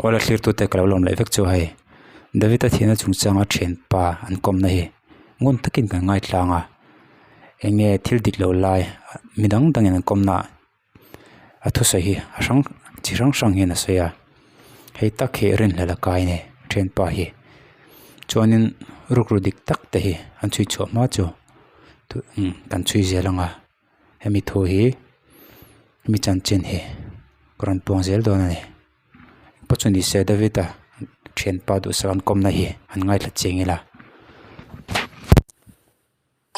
Awle thlirtute ka lo lawm leh vek chu hei Davita thiana chung changa thianpa an kawmna hi ngun takin kan ngaithlang a, enge thil dik loh lai mi dang dangin an kawmna ah-- A thusawi hi a hrang chi hrang hrang hian a sawi a hei tak hi a rinhlel a kai nei a ṭhenpa hi chuanin ruk ru dik tak te hi an chhui chhuah hma chu thu imm kan chhui zel anga hemi thu hi mi chanchin hi ka rawn tuam zel dawn a ni paw chu ni se David a ṭhenpa duhsakna an kawmna hi an ngaithla cheng ila.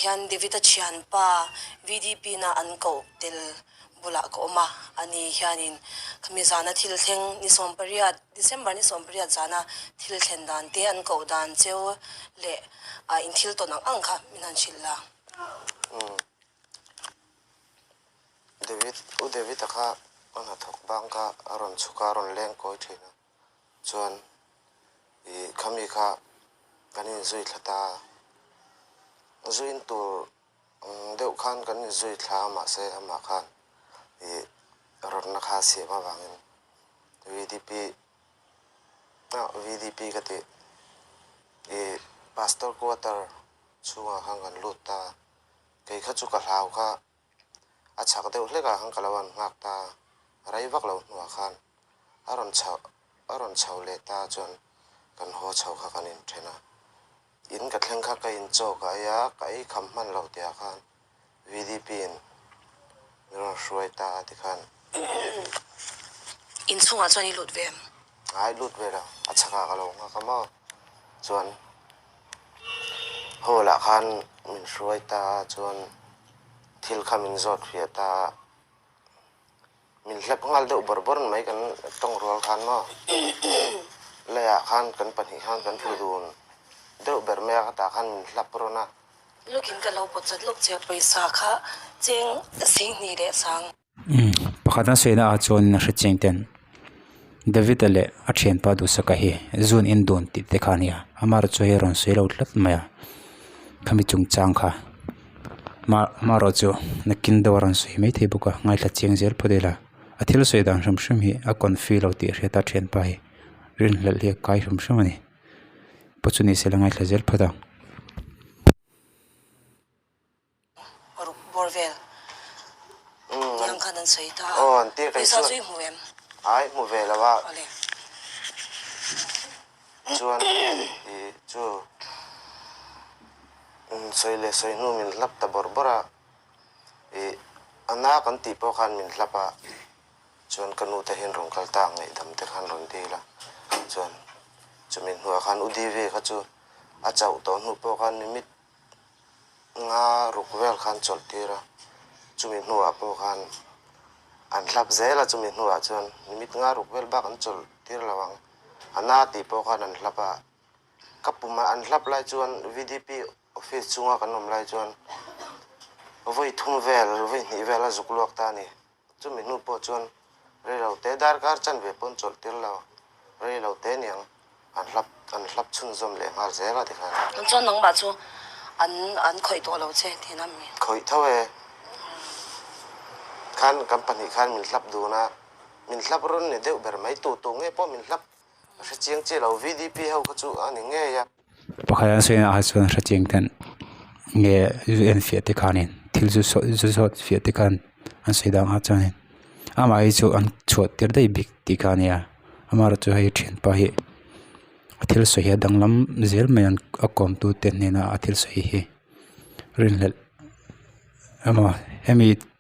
hian David-a thianpa VDP na an koh tel bulah ka awm a, a ni hianin khami zana thil thleng ni sawmpariat December ni sawmpariat zana thil thlen dan te an koh dan cheu leh a in thil tawn ang ang kha min han hrilh la. David, U David-a kha a hnathawk bang kha a rawn chhuka a rawn leng kawi thin a, Chuan i khami kha kan inzui thla ta. Zuin tur deuh khan kan inzui thla a mahse amah khan i rawtna kha a siam avangin VDP ah VDP ka ti i Pastor quarter chhungah khan kan lut ta. Kei kha chu ka hlau kha a chhak deuh hlekah khan ka lo an nghak ta a, a rei vak lo hnuah khan a rawn chho a rawn chho leh ta chuan kan haw chho kha kan inthen a, in ka thleng kha ka inchaw ka ei a, ka ei kham hman lo teh ah khan VDP in min rawn hruai ta a tikhan inchhungah chuan i lut ve em? Ngai lut ve lo, a chhakah ka lo nghak a maw. Chuan hall ah khan min hruai ta a, chuan thil kha min zawt fiah ta a, min hlep nghal deuh bawr bawr mai kan tawng rual khan maw lei ah khan kan pahnih khan kan hmu dun deuh ber mai a, ka tah khan min hlap rawn a. Lukin ka lo pawt zet lawk che a, pawisa kha cheng sihni leh sang. Pakhatna sawi naah chuan a hrichhing ten Davita leh a thianpa duhsaka hi zun in dun tih te kha a nia amarawh chu hei a rawn sawi lo tlat mai a khami chungchang kha ma amarawh chu nakin deuh a rawn sawi maithei bawk a ngaithla chiang zel phawt ila a thil sawi dan hrim hrim hi a confuse lo tih a hriat a a thianpa hi rinhlelh hi a kai hrim hrim a ni pawh chu ni sela ngaithla zel phawt a. Bawr vel niang khan an sawi ta a, pawisa chu i hmu em? Ai hmu ve lo a. Awle. Chuan i chu sawi leh sawi hnu min hlap ta bawr bawr a, i a na kan tih pawh khan min hlap a, chuan ka nu te hian rawn kal ta a ngaihdam te khan rawn dil a, chuan chumi hnuah khan u Devi kha chu a chauh tawh hnu pawh khan mi mit Nga ruk vel khan chawlh tir a, chumi hnuah pawh khan an hlak zel a, chumi hnuah chuan minute nga ruk vel bak an chawlh tir lo ang, a na tih pawh khan an hlap a, ka pumah an hlap lai chuan VDP office chhunga kan awm lai chuan vawi thum vel vawi hnih vel a zuk luak ta a ni. Chumi hnu pawh chuan reilo te darkar chan ve pawn chawlh tir lo, reilo te niang an hlap an hlap chhunzawm leh nghal zel a tikhan. An chuan nangmah chu an an khawih tawh lo che tiin a mi. Khawih tho e. Khan kan pahnih khan min hlap dun a, min hlap rawn ni deuh ber mai, tu tu nge pawh min hlap, a hre chiang chiah lo, VDP ho kha chu a ni ngei a. Pakhat hian sawi naha chuan hrethiam ten nge zu en fiah te khanin thil zu sawi zu sawt fiah te khan an sawi dan a chuanin amah hi chu an chhuah tir daih bik tih kha a nia amah erawh chu hei thianpa hi a thil sawi hi a danglam zel mai an a kawmtute hnena a thil sawi hi rinhlelh emaw hemi--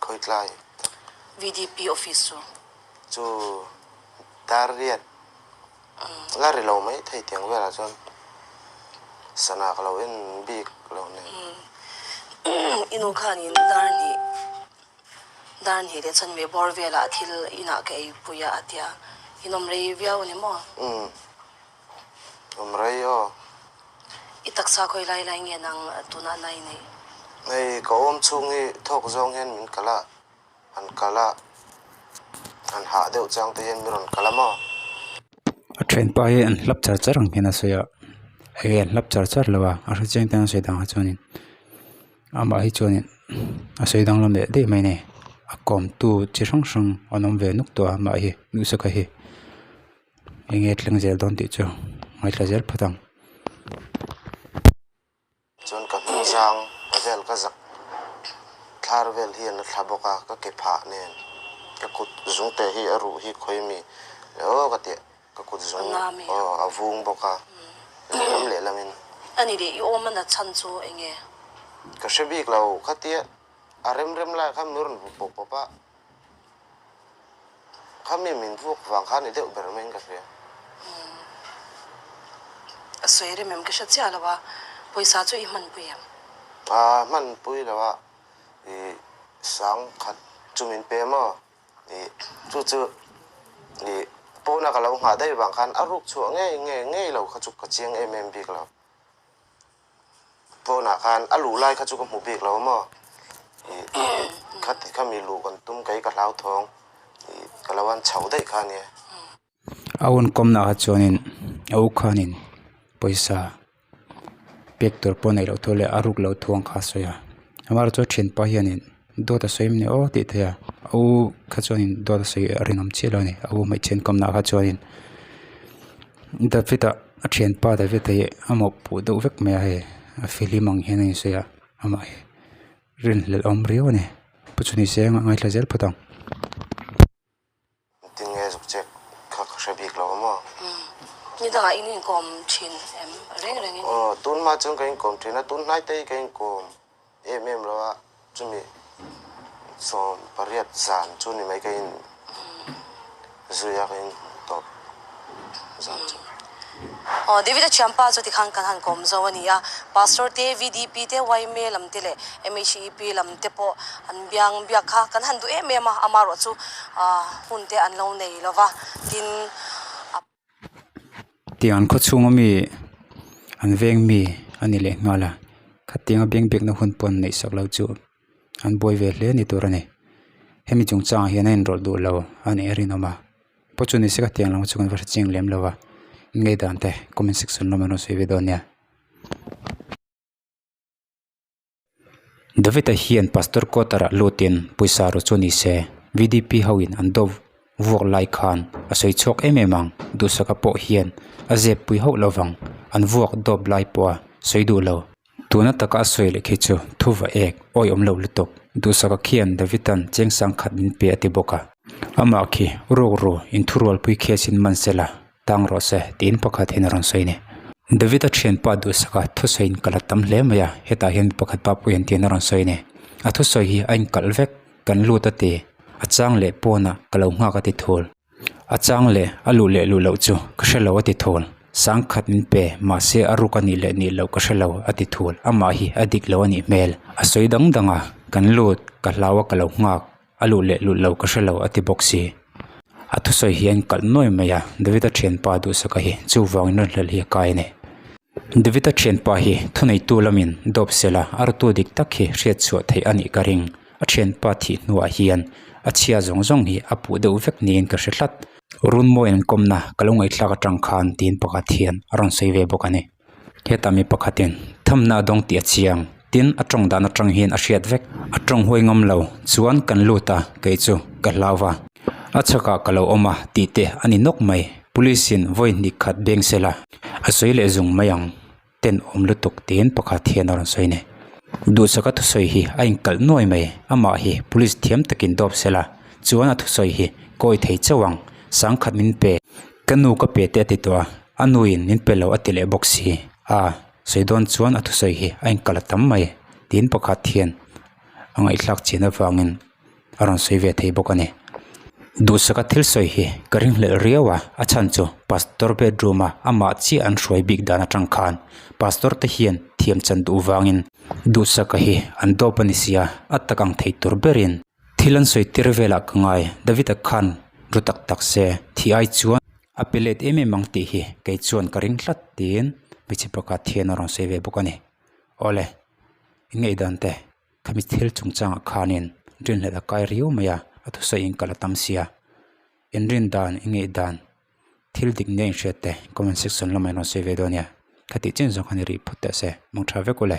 Khawitlai tak. VDP office chu. Chu dar riat la ri lo mai thei tiang velah chuan sana ka lo en bik lo nen. I nu khanin dar hnih dar hnih leh chuan ve bawr velah thil inah ka ei pui a a ti a. Inawm rei viau a ni maw? Umm. Awm rei aw. I taksa khawi lai lai nge nang tunah nai neih? Hei ka awm chhung hi thawk zawng hian min kal a, han kal a, han hah deuh chang te hian min rawn kal a maw? A then pa hi an hlap char char ang hian a sawi a, hei hi an hlap char char lo a, a hre chiang ten a sawi dangah chuanin amah hi chuanin a sawi dang lam leh daih mai nei, a kawmtu chi hrang hrang an awm ve nuk tawh a mah hi, nusa ka hi. Enge thleng zel dawn tih chu ngaihla zel phat ang. Chuan ka hnu zang a vel ka zak thlar vel hi an la thla bawk a, ka ke phah nen ka kut zung te hi a ruh hi khawi mi le aw ka ti a, ka kut zung aw a vung bawk a lam leh lam in. A ni leh i awm a na chhan chu enge? Ka hre bik lo ka ti a, a rem rem lai kha mi rawn vup pawp pawp a. Khami min vuak vang khan i deuh ber maiin ka hria. A sawi rem em? Ka hre chiah lo a, pawisa chu i hmanpui em? A hmanpui lo a, i sang khat chu min pe maw? I chu chu i pawna ka lo nghah daih vang khan a ruk chhuah ngei ngei ngei lo kha chu ka chiang em em bik lo. Pawnah khan a luh lai kha chu ka hmu bik lo maw? Ih, kha ti kha mi luh kan tum kei ka hlau thawng, ih, ka lo an chho daih kha nia. A hun kawmna kha chuanin a u khanin pawisa pek tur pawh a neih loh thur leh a ruk loh thuang kha a sawi a. Amah erawh chu a thianpa hianin Dawt a sawi em ni aw tih theia aw kha chuanin dawt a sawi a rinawm chiah lo a ni a aw hmeichhe an kamna kha chuanin David-a a thianpa David hi a mawhpuh deuh vek mai a hei a film ang hian a insawi a amah hi rinhlelh a awm riau a ni pu chu ni se a ngaithla zel phawt ang. Tinge zukchek kha ka hre bik lo maw? Umm. Ni dangah in inkawm thin em? Reng reng in. Aw, tun hma chuan ka inkawm thin a, tun hnaite hi ka inkawm em em lo a, chumi sawm pariat zan chu ni mai ka in zuih a, ka in tawp zan chu. David-a thiam pa chu tikhan kan han kawm zo a ni a, Pastor te, VDP te, YMA lam te leh MHEP lam te pawh an biang biak kha kan han duh em em a, ama ruah chu hun te an lo nei lo va, tin a. Tiang an khawchhung a mi an veng mi a ni leh nghal a, khatinga biang biakna hun pawh an neihsak lo chu. an buai ve hle ni tur a ni hemi chung chang ah hian a enrawlh duh lo a nih a rinawm a pawh chu nise ka tih ang lo chu kan va hre ching lem lo a ngei dan te comment section lamah an rawn sawi ve dawn nia David a hian pastor quarter ah lut in pawisa rawh chu ni se VDP ho in an dawp vuak lai khan a sawi chhuak em em ang duhsaka pawh hian a zep pui hauh lovang an vuak dawp lai pawh a sawi duh lo. Tuna taka a sawi leh khi chu thu va ek awi awm lo lutuk. Duhsaka khian Davidan cheng sang khat min pe a ti bawk a. Amah khi, Rukru, in thu rualpui khi asin man se la, tang rawh se, tiin pakhat hian a rawn sawi a ni. Davida thianpa Duhsaka thu sawi in kalh a tam hle mai a, hetah hian mi pakhat pa pawh hian tiin a rawn sawi a ni. A thu sawi hi a inkalh vek, kan lut a ti, a chang leh pawnah ka lo nghak a ti thul. A chang leh a luh leh luh loh chu ka hre lo a ti thawn. Sang khat min pe mahse a ruk a nih leh nih loh ka hre lo a ti thul. Amah hi a dik lo a nih hmel. A sawi dang dang a, kan lut ka hlau a ka lo nghak, a luh leh luh lo ka hre lo a ti bawk si. A thusawi hi a inkalh nuai mai a, David-a thianpa duhsaka hi chuvangin rawnhlelh hi a kai a ni. David-a thianpa hi thuneitu lamin dawp sela a rutu dik tak hi hriatchhuah theih a nih ka ring. A thianpa thih hnuah hian a chhia zawng zawng hi a puh deuh vek niin ka hre hlat. Runmawin an kawmna ka lo ngaihthlak atang khan tiin pakhat hian a rawn sawi ve bawk a ni. Hetah mi pakhatin thamna a dawng tih a chhi ang tin a tawng dan atang hian a hriat vek. A tawng huai ngam lo chuan kan lut a, kei chu ka hlau va. A chhakah ka lo awm a tih te a ni nawk mai. Police-in vawi hnikkhat beng sela a sawi leh zung mai ang. ten awm lutuk tiin pakhat hian a rawn sawi nei. Duhsaka thusawi hi a inkalh nuai mai. Amah hi police thiam takin dawp sela, chuan a thusawi hi kawi thei chauh ang. Sang khat min pe. Ka nu ka pe teh a ti tawh a, a nuin min pe lo a ti leh bawk si a, sawi dawn chuan a thusawi hi a inkalh a tam mai, tiin pakhat hian a ngaihthlak chin avangin a rawn sawi ve thei bawk a ni. Duhsaka thil sawi hi ka ring hlelh riau a, a chhan chu Pastor bedroom a amah chiah an hruai bik dan atang khan Pastor te hian thiam chan duh vangin Duhsaka hi an dawp a ni sia a tak ang thei tur berin thil an sawi tir velah ka ngai, Davita khan ru tak tak se thih ai chuan a pe let em em ang tih hi kei chuan ka ring tlat tiin hmeichhe pakhat hian a rawn sawi ve bawk a ni. Awle, i ngaih dan te? Khami thil chungchangah khanin rinhlelh a kai riau mai a, a thusaiin ka la tam sia. In rin dan, in ngeih dan, thil dik nia in hriatte comment section lamah in rawn sawi ve dawn nia. Kha tih chin zawng khan i rih phawt teh se, mangṭha vek u le.